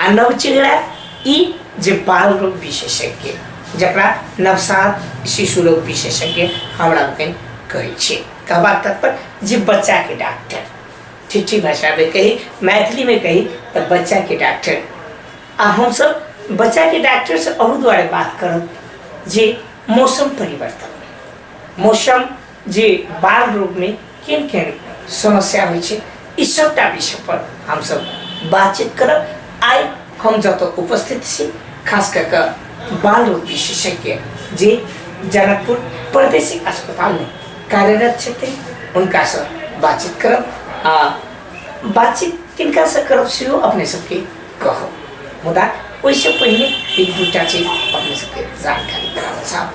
आ नवचेहरा ई जे बाल रोग विशेषज्ञ जकरा नवसात शिशु रोग विशेषज्ञ हमरा लोकनि कहै छियै कहबाक तात्पर्य जे बच्चाके डॉक्टर ठेठी भाषामे कही मैथिलीमे कही तऽ बच्चाके डॉक्टर आ हमसब बच्चाके डॉक्टर से अहू दुआरे बात करब जे मौसम परिवर्तन मौसम जे बाल रोग में केन केन समस्या होइ छै ई सबटा विषय पर हम सब बातचीत करब आइ हम जत उपस्थित छी खास कऽ कऽ बाल रोग विशेषज्ञ जे जनकपुर प्रादेशिक अस्पताल में कार्यरत छथिन हुनका से बातचीत करब आ बातचीत किनका से करब सेहो अपने सबके कहब मुदा ओहिसँ पहिने एक दूटा चीज अपने सबके जानकारी कराबऽ चाहब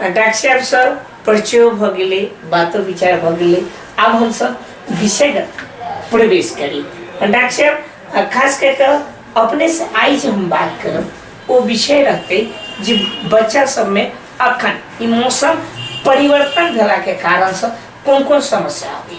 डाक्टर साहब सर परिचयो भऽ गेलै बातो विचार भऽ गेलै आब हमसब विषयमे प्रवेश करी डाक्टर साहब आ खास कऽ कऽ अपने से आइ जे हम बात करब ओ विषय रहतै जे बच्चा सबमे अखन ई मौसम परिवर्तन भेलाके कारणसँ कोन कोन समस्या अबै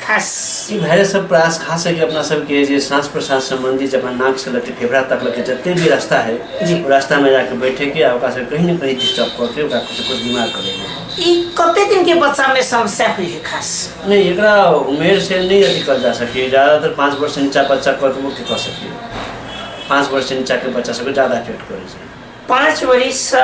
खास ई भाइरस सब प्रयास खास है कि अपना सबके जे साँस प्रसास सम्बन्धी जब नाक से लगे फेफड़ा तक लगे जते भी रास्ता है जी। ओ रास्ता में जाके बैठे के आ ओकरा से कहीं ने कहीं डिस्टर्ब करके ओकरा कुछ कुछ बीमार कर देंगे ई कते दिन के बच्चा में समस्या हुई है खास नहीं एकरा उमेर से नहीं अथी कर जा सके ज़्यादातर पाँच वर्ष से नीचा बच्चा कतबो के कर सके पाँच वर्ष से नीचा के बच्चा सबके ज़्यादा इफेक्ट करे छै पाँच वर्ष से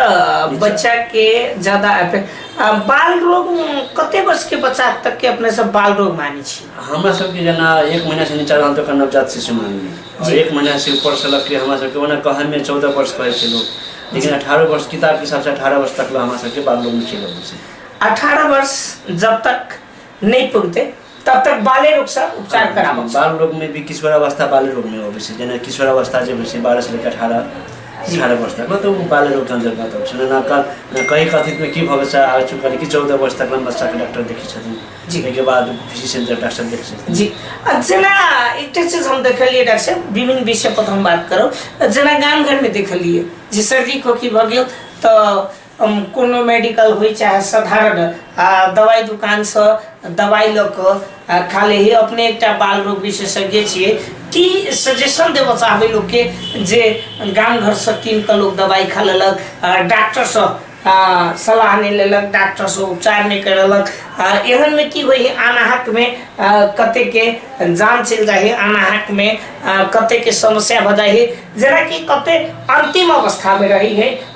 बच्चा के ज्यादा अफेक्ट आ, बाल रोग म, कते वर्ष के बच्चा तक के अपने सब बाल रोग माने छी हमरा सबके जेना एक महीना से नीचा रहल तऽ ओकर नवजात शिशु मानली और जी। एक महीना से ऊपर से लग के हमरा सबके ओना कहै में चौदह वर्ष कहै छै लोग लेकिन अठारह वर्ष किताब के हिसाब से अठारह वर्ष तक ला हमरा सबके बाल लोग में खेल अबै छै अठारह वर्ष जब तक नहीं पुगते तब तक बाले रोग से उपचार कराबक चाही। बाल रोग में भी किशोरावस्था बाल रोग में अबै छै जेना किशोरावस्था जे होइ छै बारह से लेकर अठारह अठारह वर्ष तक मतलब ओ बाल रोग के अंतर्गत अबै छै जेना क- जेना कहीं कथित में की भऽ गेल छै आगे चुका कि चौदह वर्ष तक में बच्चा के डॉक्टर देखै छथिन जी। ताहिके बाद फिजिशियन जे डॉक्टर देखै छथिन जी आ जेना एकटा चीज हम देखलियै डॉक्टर साहब विभिन्न विषय पर हम बात करब जेना गाम घर में देखलियै जे सर्दी खोखी भऽ गेल तऽ हम कोनो मेडिकल होइ चाहे साधारण आ दवाइ दोकानसँ दवाइ लऽ कऽ आ खा लै हे अपने एकटा बाल रोग विशेषज्ञ छियै की सजेशन देबऽ चाहबै लोकके जे गाम घरसँ कीन कऽ लोक दवाइ खा लेलक आ डॉक्टरसँ आ, सलाह नहि लेलक डॉक्टरसँ उपचार नहि करेलक आ एहनमे की होइ है अनाहकमे आ, कतेकके जान चलि जाइ है अनाहकमे आ, कतेकके समस्या भऽ जाइ है जेनाकि कते अन्तिम अवस्थामे रहै है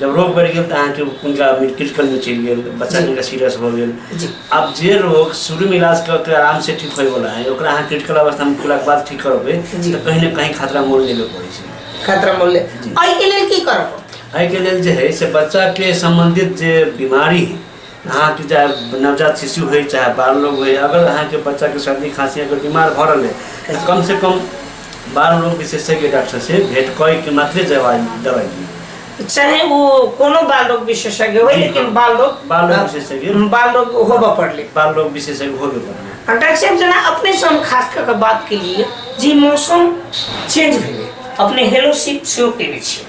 जब रोग बढ़ि गेल तऽ अहाँके हुनका क्रिटिकलमे चलि गेल बच्चा जिनका सीरियस भऽ गेल जी आब जे रोग शुरूमे इलाज कऽ के आरामसँ ठीक होयवला है ओकरा अहाँ क्रिटिकल अवस्थामे पुगलाके बाद ठीक करबै जी। तऽ कहीं ने कहीं खतरा मोल लेबे पड़ै छै खतरा मूल्य जी। एहिके लेल की करब एहिके लेल जे है से बच्चाके सम्बन्धित जे बीमारी है अहाँके चाहे नवजात शिशु होइ चाहे बाल लोग होइ अगर अहाँके बच्चाके सर्दी खाँसी अगर बीमार भऽ रहल है तऽ कम से कम बाल रोग विशेषज्ञ डॉक्टर से भेंट कय के मात्रे दवाई दवाई दी चाहे वो कोनो बाल रोग विशेषज्ञ हो जी, लेकिन हाँ। बाल रोग बाल रोग विशेषज्ञ। बाल रोग होबऽ पड़ले बाल रोग विशेषज्ञ होबे करना आ डॉक्टर साहब जेना अपने से हम खास कऽ के बात केलियै जे मौसम चेंज भेलै अपने हेलो सिप सेहो केने छियै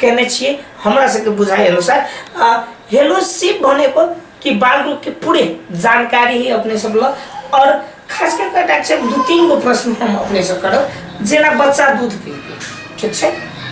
केने छियै हमरा सबके बुझाइ अनुसार आ हेलो शिव भने को कि बालरू के पूरे जानकारी ही अपने सब ल और खास कर के डाक साहब दू तीन गो प्रश्न हम अपने से करब जेना बच्चा दूध पीलके ठीक छै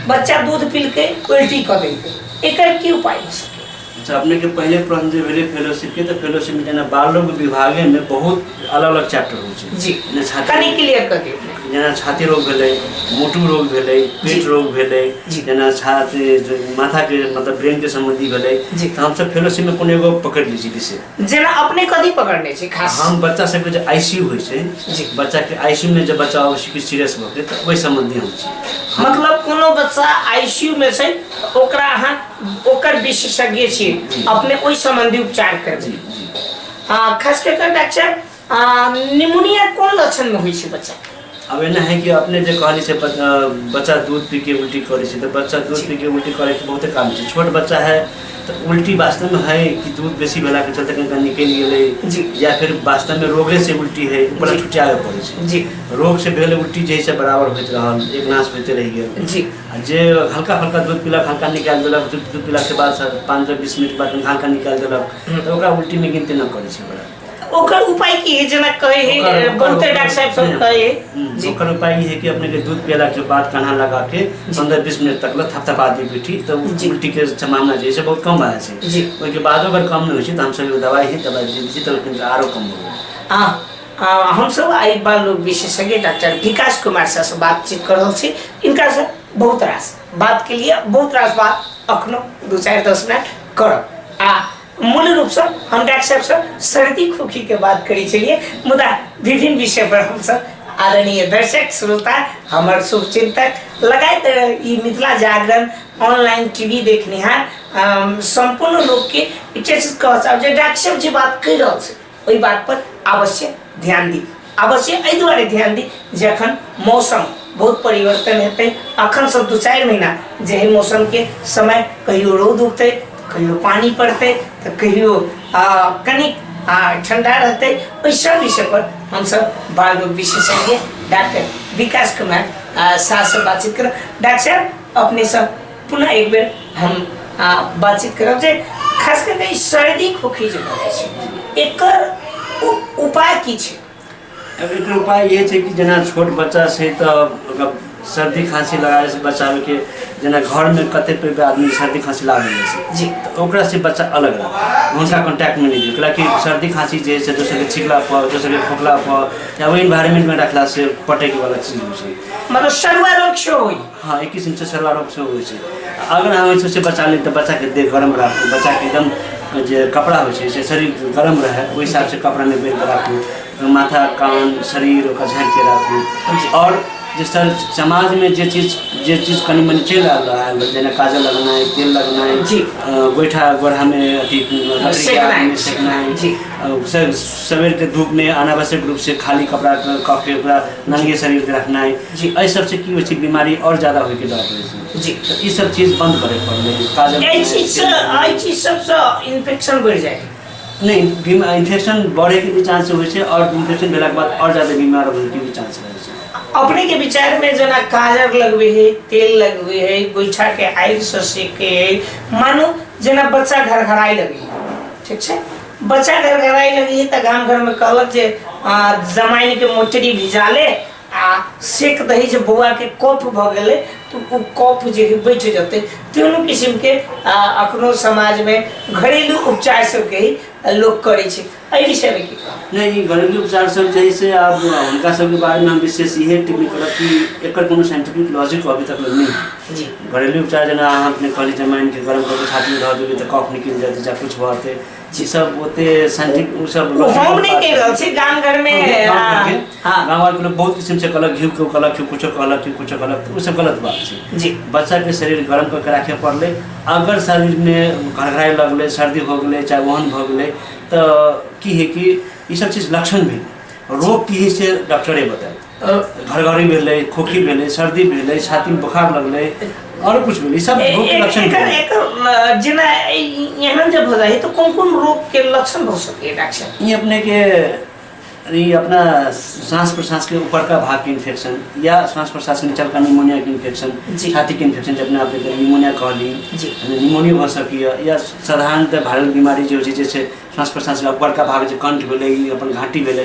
बच्चा दूध पीलके उल्टी कऽ देलके एकर की उपाय हो सके अच्छा अपने के पहले प्रश्न जे भेलै फेलोशिप के तऽ फेलोशिप में जेना बाल रोग विभागे में बहुत अलग अलग चैप्टर होइ छै जी जेना छाती कनी क्लियर कर दियौ अपने। जेना छाती रोग भेलै मोटू रोग भेलै पेट जी। रोग भेलै जी। जेना छाती जे माथा के मतलब ब्रेन के संबंधी भेलै जी। तऽ हमसब फेलोशिप में कोनो एगो पकड़ लै छी विषय जेना अपने कथी पकड़ने छी खास हम बच्चा सबके जे आईसीयू होइ छै जी। बच्चा के आईसीयू में जे बच्चा अबै छै सीरियस भऽ के तऽ ओहि संबंधी हम छी हम मतलब कोनो बच्चा आईसीयू में छै ओकरा अहाँ ओकर विशेषज्ञ छी अपने ओहि सम्बन्धी उपचार करबै आ खास कऽ कऽ डॉक्टर आ, निमोनिया कोन लक्षणमे होइ छै बच्चा अब एना है कि अपने जे कहली से बच- अ, बच्चा दूध पी के उल्टी करे छै तो बच्चा दूध पी के उल्टी करे के बहुते काम छै छोट बच्चा है तो उल्टी वास्तव में है कि दूध बेसी भेला के चलते कहीं कहीं निकल जी। गेले या फिर वास्तव में रोगे से उल्टी है ऊपर जी। छुटियावे पड़े छै जी रोग से भेल उल्टी जैसे बराबर होइत रहल एक नाश होते रह गेल जी जे हल्का फल्का दूध पीलक हल्का निकालि देलक दूध दूध पीलाके बाद सर पाँच सए बीस मिनट बाद हल्का निकालि देलक तऽ ओकरा उल्टीमे गिनती नहि करै छै बड़ा ओकर उपाय की है जेना कहे है ओकर- बहुते ओकर- डॉक्टर साहब सब कहे है हम्म, जी ओकर उपाय ई है कि अपने के दूध पियला के बाद कान्हा लगा के पंद्रह बीस मिनट तक ला थपथपा दी पीठी तऽ उ जी। उल्टी के संभावना जे है से बहुत कम भए जाइ छै जी। ओहिके बादो अगर कम नहि होइ छै तऽ हमसब एगो दवाइ है दवाइ दे दै छी तऽ लेकिन आरो कम हो आ हमसब आइ बाल रोग विशेषज्ञ डॉक्टर विकास कुमार सर से बातचीत कर रहल छी इनका से बहुत रास बात के लिए बहुत रास बात अखनो दू चारि दस मिनट करब आ मूल रूप से हम डॉक्टर साहब से सर्दी खोखी के बात करी चलिए मुदा विभिन्न विषय पर हम सब आदरणीय दर्शक श्रोता हमार शुभ चिंतक लगायत ई मिथिला जागरण ऑनलाइन टीवी देखनिहार अम, संपूर्ण लोग के एक चीज कहब जे डॉक्टर साहब जी बात कर रहल छै ओहि बात पर अवश्य ध्यान दी अवश्य एहि दुआरे ध्यान दी जे अखन मौसम बहुत परिवर्तन हेतै अखन से दू चारि महीना जे एहि मौसम के समय कहियो रौद उगतै तऽ कहियो पानी पड़तै तऽ कहियो आ, कनिक आ, ठंडा रहतै ओहि सब विषय पर हमसब बाल रोग विशेषज्ञ डॉक्टर विकास कुमार आ, साह से बातचीत करब डॉक्टर साहब अपने सब पुनः एक बेर हम बातचीत करब जे खास करके सर्दी खोखी जे भऽ छै एकर उपाय की छै अब एक उपाय ये छै कि जेना छोट बच्चा छै तऽ सर्दी खांसी लगाए से बचावे के जेना घर में कते पे आदमी सर्दी खांसी लाग जाए छै जी तो ओकरा से बच्चा अलग रह उनका कांटेक्ट में नहीं दियो कि सर्दी खांसी जे से दोसर के छिकला पर दोसर के खोखला पर या वो एनवायरनमेंट में रखला से पटे के वाला चीज हो छै मतलब शरुआ रोग से होई हाँ एक किस्म से सरवा रोग से हो छै अगर अहाँ ओहिसँ से बचा ली तऽ बच्चाके देह गरम राखू बच्चाके एकदम जे कपड़ा होइ छै से शरीर गरम रहै ओहि हिसाबसँ कपड़ा नहि बेर राखू माथा कान शरीर ओकर झाँकिके राखू आओर जे सर समाजमे जे चीज जे चीज कनि मनि चलि रहल रहै जेना काजल लगनाइ तेल लगनाइ जी गोइठा गोढ़ामे अथी सेकनाइ सवेरके धूपमे अनावश्यक रूपसँ खाली कपड़ा कऽ के ओकरा नंगे शरीरके रखनाइ जी एहि सबसे की होइ छै बीमारी और ज्यादा होइके डर रहै छै जी तऽ ई सब चीज बंद करे पड़लै काजल एहि चीजसँ एहि चीज सबसँ इन्फेक्शन बढ़ि जाइ छै नहीं बीमा इन्फेक्शन बढ़ैके भी चान्स होइ छै और इन्फेक्शन भेलाके बाद और ज्यादा बीमार होइके भी चान्स रहै छै अपने के विचार में जना काजर लगबे है तेल लगबे है गोइठा के आगि से सेके है मानो जना बच्चा घर घराई लगे है ठीक छै बच्चा घर घराई लगे है तऽ गाम घर में कहलक जे आ, जमाइन के मोटरी भिजाले आ सेक दही जे बौआ के कफ भऽ गेलै तऽ ओ कफ जे है बैठ जेतै तीनू किसिम के आ, अखनो समाज में घरेलू उपचार सबके ही आ, लोग करै छै एहि विषय में की कहब? नहीं ई घरेलू उपचार सब जे है से आब हुनका सबके बारे में हम विशेष इहे टिप्पणी करब कि एकर कोनो साइंटिफिक लॉजिक अभी तक नहीं है। जी घरेलू उपचार जेना अहाँ अपने कहली जमाइन के गरम कऽ के छाती मे धऽ देबै तऽ कफ निकलि जेतै चाहे किछु भऽ जेतै जी सब ओते साइंटिफिक उ सब ओ हम नहीं कह रहल छी गाम घर में हाँ, हाँ, गाँव वाले लोग बहुत किस्म से कहलक घी को कहलक कि कुछो कहलक कि कुछो कहलक तो उ सब गलत बात छै जी बच्चा के शरीर गर्म करके राखे पड़ले अगर शरीर में घरघराए लगले सर्दी हो गेले चाहे ओहन भऽ गेले तऽ की है कि ई सब चीज लक्षण भेल रोग की है से डॉक्टरे बताए घरघरी भेलै खोखी भेलै सर्दी भेलै छातीमे बोखार लगलै आओर कुछ भेलै सब रोग के लक्षण एकर भेलै एकर अ, जेना ए- एहन जे भऽ जाइ तऽ कोन कोन रोग के लक्षण भऽ सकैए डॉक्टर ई अपने के ई अपना सांस प्रश्वास के ऊपर का भाग के इन्फेक्शन या सांस प्रश्वास के नीचा का निमोनिया के इन्फेक्शन जी। छाती के इन्फेक्शन जब अपने के निमोनिया कहली जी। निमोनिया भऽ सकैए या साधारणतः वायरल बीमारी जे होइ छै जैसे सांस प्रश्वास के ऊपर का भाग जे कंठ भेलै ई अपन घाटी भेलै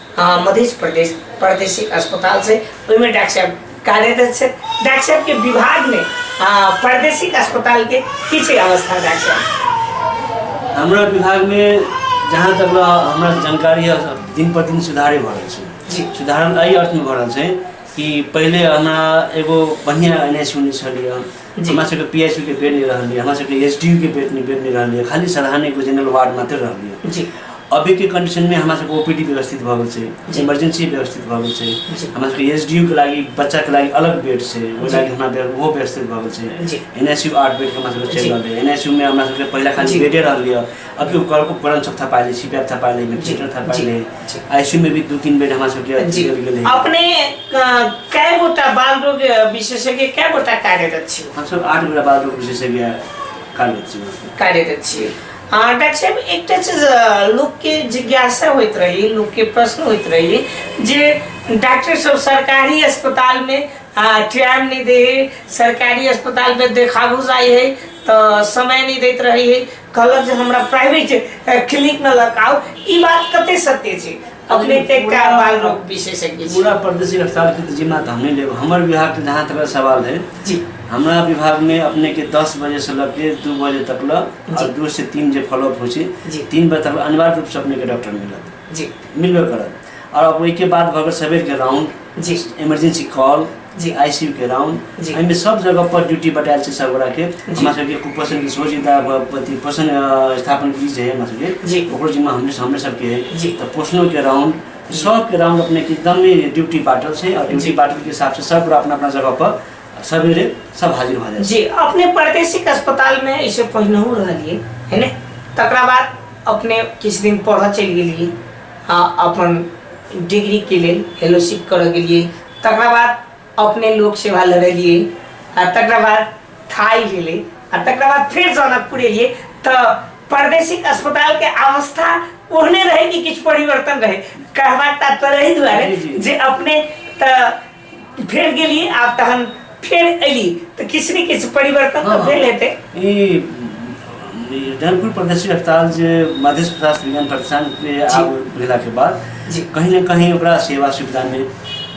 हाँ मध्य प्रदेश प्रादेशिक अस्पताल से ओहिमे डॉक्टर साहब कार्यरत छथि डॉक्टर साहब के विभाग में हाँ, प्रादेशिक अस्पताल के की छै अवस्था डॉक्टर साहब हमरा विभाग में जहाँ तक ला हमरा जानकारी है दिन पर दिन सुधारे भऽ रहल छै जी। सुधार एहि अर्थ में भऽ रहल छै कि पहिले हमरा एगो बढ़िया एन एस यूनिट छलै हँ जी। हमरा सबके पी एच यू के बेड नहीं रहल है हमरा सबके एस डी यू के बेड नहीं बेड नहीं रहल है खाली सराहने को जनरल वार्ड मात्र रहल है जी अभी के कंडीशन में हमरा सबके ओपीडी व्यवस्थित भऽ गेल जी। छै इमरजेंसी व्यवस्थित भऽ गेल जी। छै हमरा सबके एस डी यू के लागि बच्चा के लागि अलग बेड छै ओहि जी। लागि हमरा बेड ओहो व्यवस्थित भऽ गेल जी। छै एन एस यू आठ बेड के हमरा सबके चलि जी। रहल है एन एस यू में हमरा सबके पहले जी। खाली बेडे रहल है अभी ओकर उपकरण सब थपा ले सीपैप थपा ले वेंटिलेटर थपा जी, ले जी। आईसीयू में भी दो तीन बेड हमारे सबके जी अथी गेले अपने अ, कय गोटा बाल रोग विशेषज्ञ कय गोटा कार्यरत छी हम सब आठ बेरा बाद लोग विशेषज्ञ कार्य छी वहाँ पे। कार्यरत छी अ, डॉक्टर साहब एकटा चीज अ, लोकके जिज्ञासा होइत रही लोकके प्रश्न होइत रही जे डॉक्टर सब सरकारी अस्पतालमे टाइम नहि दै है सरकारी अस्पतालमे देखाबू जाइ है तऽ समय नहि दैत रहै है कहलक जे हमरा प्राइवेट क्लिनिक में लगाओ ई बात कते सत्य छै अपने के का बाल रोग विशेषज्ञ छी पूरा प्रदेशी अस्पताल के तो जिम्मा तो हम नहीं लेब हमर विभाग के जहाँ तक सवाल है जी हमरा विभाग में अपने के दस बजे से लग के दू बजे तक ल जी। और दू से तीन जे फॉलोअप हो जी। छै तीन बजे तक अनिवार्य रूप से अपने के डॉक्टर मिलत जी मिलबे करत और अब ओहिके बाद भऽ गेल सबेर के राउंड जी इमरजेंसी कॉल जी आईसीयू के राउंड जी। एहिमे सब जगह पर ड्यूटी बटायल छै सब गोरा के हमरा सबके कुपोषण के सोच इता अथी पोषण अ, स्थापन की जे है हमरा सबके जी। ओकरो जिम्मा हमरे हमरे सबके है जी। तऽ पोषणो के राउंड सब के राउंड अपने के एकदम ही ड्यूटी बांटल छै और ड्यूटी जी। बांटल के हिसाब से सब गोरा अपना अपना जगह पर सवेरे सब हाजिर भऽ जाइ छै जी अपने प्रादेशिक अस्पताल में ऐसे पहिनहु रहलिए है ने तकरा बाद अपने किछु दिन पढ़ऽ चलि गेलिए आ अपन डिग्री के लेल फेलोशिप करऽ गेलिए तकरा बाद अपने लोक सेवा लड़लिए आ तकरा बाद थाई भेले आ तकरा बाद फिर जनकपुर एलिए तो प्रादेशिक अस्पताल के अवस्था ओहने रहे कि किछु परिवर्तन रहे कहबाक तात्पर्य एहि दुआरे जे अपने तऽ फेर गेलिए आब तहन फेर अयली तऽ किछु ने किछु परिवर्तन तऽ भेल हेतै ई ई जनकपुर प्रदेशिक अस्पताल जे मधेश प्रशासन विज्ञान प्रतिष्ठानके आब भेलाके बाद जी। कहीं ने कहीं ओकरा सेवा सुविधामे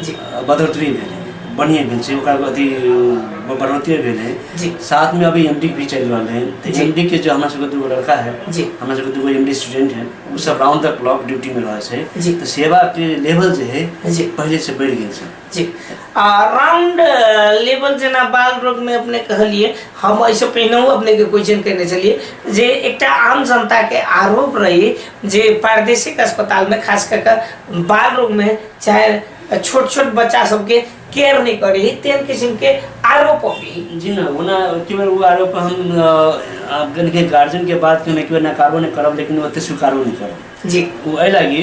जी। अ, बढ़ोतरी भेल है बढ़िए भेल छै ओकरा अथी अ, बढ़ोतरी भेल है जी। साथमे अभी एम भी चलि रहल है तऽ जी। एम के जो हमरा सबके दूगो लड़का है जी। हमरा सबके दूगो एम स्टूडेंट है ओ सब राउंड द क्लॉक ड्यूटीमे रहै जी। छै तऽ सेवाके लेवल जे है जी। पहिलेसँ बढ़ि गेल छै जी आ राउंड लेवल जेना बाल रोग में अपने कहलिए हम ऐसे पहिनहु अपने के क्वेश्चन करने चलिए जे एकटा आम जनता के आरोप रही जे प्रादेशिक अस्पताल में खास कर कर बाल रोग में चाहे छोट छोट बच्चा सबके केयर नहीं करी तेन किस्म के आरोप भी जी ना वो ना के बेर वो आरोप हम अ, आप गन के गार्जियन के बात के ना के बेर नकारबो नहीं करब लेकिन ओते स्वीकारो नहीं करब जी वो एहि लागी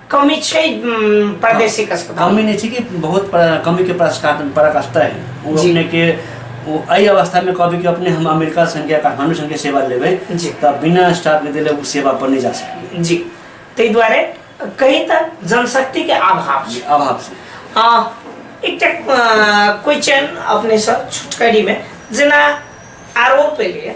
कमी छै उम, प्रादेशिक अस्पताल कमी नहि छै कि बहुत पर- कमी के प्रस्कार परक स्तर है ओ जी। अपने के ओ एहि अवस्था में कहबै कि अपने हम अमेरिका संख्या काठमांडू संख्या सेवा लेबै जी। तऽ बिना स्टाफ के देले ओ सेवा पर नहि जा सकैए जी ताहि दुआरे कही तऽ जनशक्ति के अभाव छै अभाव से आ, एकटा क्वेश्चन अपने सब छुटकरी में जेना आरोप एलैए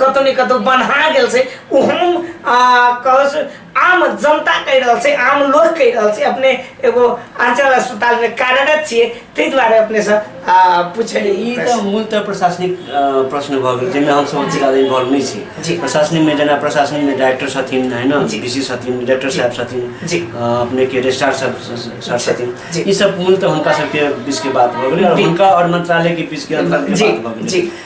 कतौ ने कतौ बन्हा गेल छै ओ हम कहस आम जनता कहि रहल छै आम लोक कहि रहल छै अपने एगो अंचल अस्पताल में कार्यरत छियै ताहि दुआरे अपने से पूछे ई तऽ मूलतः तो प्रशासनिक प्रश्न भऽ गेल जाहिमे हमसभ अति ज्यादा इन्वॉल्व नहि छी प्रशासनिक में जेना प्रशासनिक में डायरेक्टर छथिन है ना डी सी छथिन डायरेक्टर साहब छथिन अपने के रजिस्ट्रार सर छथिन ई सब मूलतः हुनका सबके बीच के बात भऽ गेलै आओर हुनका आओर मंत्रालय के बीच के अंतर के बात भऽ गेलै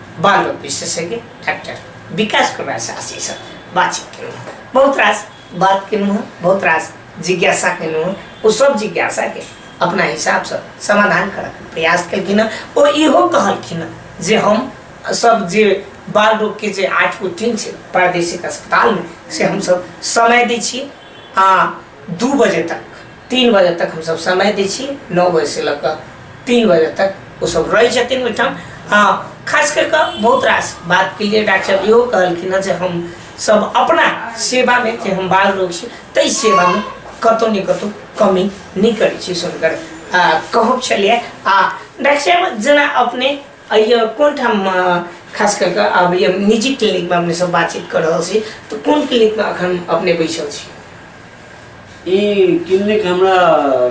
बाल विशेषज्ञ डाक्टर विकास कुमार शासीसँग बातचित केलहुँ हँ। बहुत रास बात केलहुँ हँ, बहुत रास जिज्ञासा केलहुँ हँ। ओ सब जिज्ञासाके अपना हिसाबसँ समाधान करऽके प्रयास केलखिन हँ। ओ इहो कहलखिन हँ जे हम सब जे बाल रोगके जे आठ गो टीम छै प्रादेशिक अस्पतालमे से हमसब समय दै छियै आ दू बजे तक तीन बजे तक हमसभ समय दै छी नओ बजेसँ लऽ कऽ तीन बजे तक ओसभ रहै छथिन ओहिठाम हँ खास करि कऽ बहुत रास बातके लिए डॉक्टर साहब इहो कहलखिन हँ जे हम सब अपना सेवामे जे हम बाल रोग छी ताहि सेवामे कतहु ने कतहु कमी नहि करै छी से हुनकर आ, कहब छलियै आ डॉक्टर साहब जेना अपने अइयो कोन ठाम अ, खास करि कऽ आब ये निजी क्लिनिकमे अपने सब बातचीत कऽ रहल छी तऽ कोन क्लिनिकमे एखन अपने बैसल छी ई क्लिनिक हमरा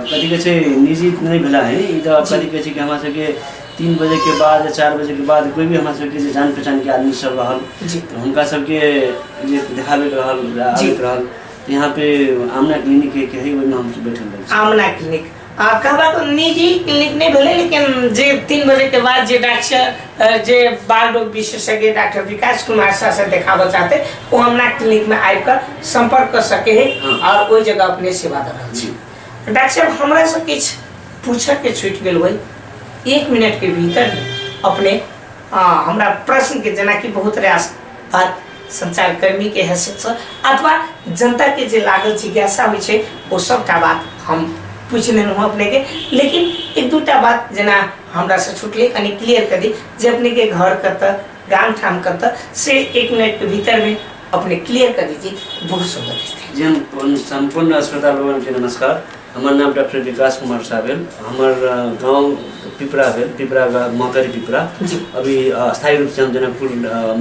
कथी कहै छै निजी नहि भेला है ई तऽ कथी कहै छै कि हमरा सबके तीन बजेके बाद चारि बजेके बाद कोइ भी हमरा सबके जे जान पहचानके आदमी सब रहल जी तऽ हुनका सबके जे देखाबैके रहल जी। आबैके रहल तऽ यहाँ पे आमना क्लिनिक के है ओहिमे हम बैठल रहै छी आमना क्लिनिक आब कहबाक निजी क्लिनिक नहि भेलै लेकिन जे तीन बजेके बाद जे डॉक्टर जे बाल रोग विशेषज्ञ डॉक्टर विकास कुमार साह से देखाबऽ चाहते ओ हमरा क्लिनिकमे आबि कऽ सम्पर्क कऽ सके है हाँ। आओर ओहि जगह अपने सेवा दऽ रहल छी डॉक्टर साहब हमरा से किछु पूछयके छूटि गेल होइ एक मिनटके भीतर अपने आ, हमरा प्रश्नके जेनाकि बहुत रास बात संचारकर्मी के हैसियत से अथवा जनता के जे लागल जिज्ञासा होइ छै ओ सबटा बात हम पूछ लेलहुँ हँ अपने के लेकिन एक दूटा बात जेना हमरा से छुटले कनि क्लियर कर दी जे अपने के घर कतऽ गाम ठाम कतऽ से एक मिनट के भीतर में अपने क्लियर कर दीजिए बहुत सुंदर स्थिति जन सम्पूर्ण अस्पताल भवन के नमस्कार हमर नाम डॉक्टर विकास कुमार शाह भेल हमर गाँव पिपरा भेल पिपरा मकर पिपरा अभी स्थायी रूप से हम जनकपुर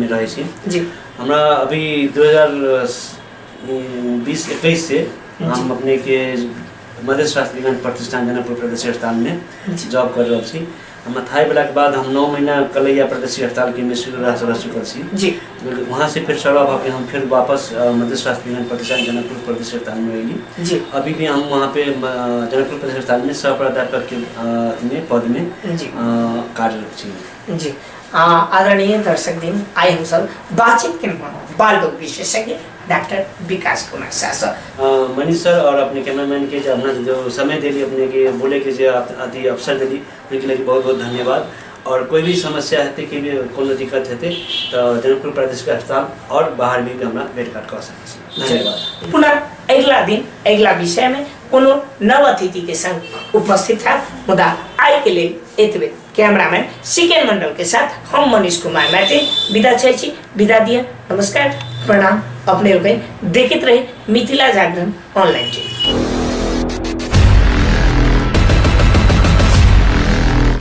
में रहे छी हमरा अभी दू हजार बीस इक्कीस से हम अपने के मधेश शास्त्री प्रतिष्ठान जनकपुर प्रदेश स्थान में जॉब कर रहा छी हम अथाई वाला के बाद हम नौ महीना कलैया प्रदेशी हड़ताल के मिश्र रह रह चुकल छी जी लेकिन वहाँ से फिर सड़वा भऽ के हम फिर वापस अ, मध्य स्वास्थ्य विज्ञान प्रतिष्ठान जनकपुर प्रदेश अस्पताल में अयली जी अभी भी हम वहाँ पे अ, जनकपुर प्रदेश अस्पताल में सह प्राध्यापक के अ, अथी में पद में अ, जी कार्यरत छी जी आ, आदरणीय दर्शक दिन आइ हमसब बातचीत केलहुँ बाल रोग विशेषज्ञ डॉक्टर विकास कुमार शाह सर अ, मनीष सर और अपने कैमरामैन के जो अपना जो समय देली अपने के बोले के जो आप- अति अवसर देली उनके लिए बहुत बहुत धन्यवाद और कोई भी समस्या हेतै कि भी कोनो दिक्कत हेतै तो जनकपुर प्रादेशिक अस्पताल और बाहर भी हमरा भेट घाट कऽ सकै छी धन्यवाद पुनः अगिला दिन अगिला विषय में कोनो नव अतिथि के संग उपस्थित है मुदा आय के लेल एतबे कैमरामैन सिकेन मंडल के साथ हम मनीष कुमार मैथिल विदा छै छी विदा दिया नमस्कार प्रणाम अपने लोकनि देखैत रही मिथिला जागरण ऑनलाइन टीवी